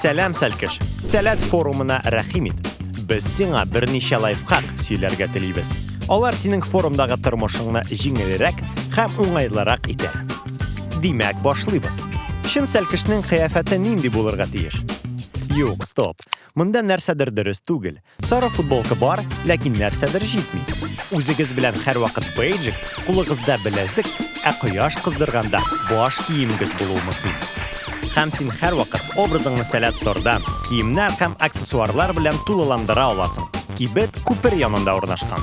Сәлам Сәлкеш. Сәләт форумына рәхим ит. Без сиңа берничә лайфхак сөйләргә телибез. Алар синең форумдагы тормышыңны җиңелрәк һәм уңайлырак итә. Димәк, башлыйбыз. Шин Сәлкешнең кыяфәте нинди булырга тиеш? Юк, стоп. Монда нәрсәдер дөрес түгел. Сары футболка бар, ләкин нәрсәдер җитми. Үзегез белән һәрвакыт бейджик, кулыгызда беләзек, ә кояш кыздырганда баш киемегез булуы мөһим. Һәм син һәрвакыт образыңны сәләт стордан, киемнәр һәм аксессуарлар белән тулыландыра аласың. Кибет күпер янында урнашкан.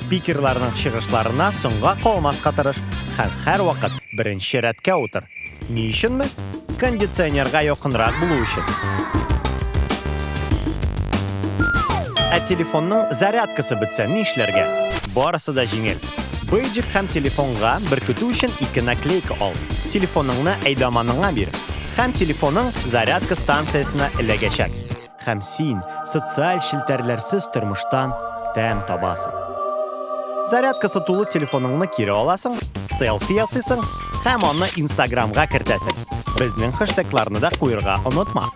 Спикерларның чыгышларына соңга калмаска тырыш һәм һәрвакыт беренче рәткә утыр. Ни өченме? Кондиционерга якынрак булу өчен. Ә телефонның зарядкасы бетсә нишләргә? Барысы да җиңел. Бейджик һәм телефонга беркетү өчен ике наклейка ал. Телефоныңны әйдаманыңа бир, һәм телефоның зарядка станциясенә эләгәчәк. Һәм син социаль челтәрләрсез тормыштан тәм табасың. Зарядкасы тулы телефоныңны кире аласың, селфи ясыйсың һәм аны Инстаграмга кертәсең. Безнең хэштегларны да куерга онытма.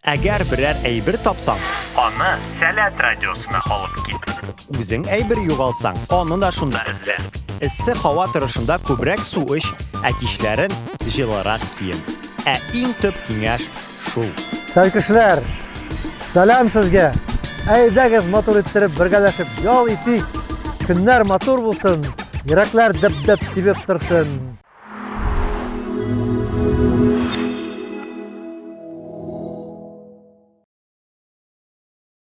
Әгәр берәр әйбер тапсаң, аны Сәләт радиосына алып кит. Үзең әйбер югалтсаң, аны да шунда эзлә. Эссе һава торышында күбрәк су эч, ә кичләрен җылырак киен. Ә иң төп киңәш, шул. Сәлкешләр, сәлам сезгә! Әйдәгез матур иттереп бергәләшеп ял итик! Көннәр матур булсын, йөрәкләр дөп-дөп тибеп торсын!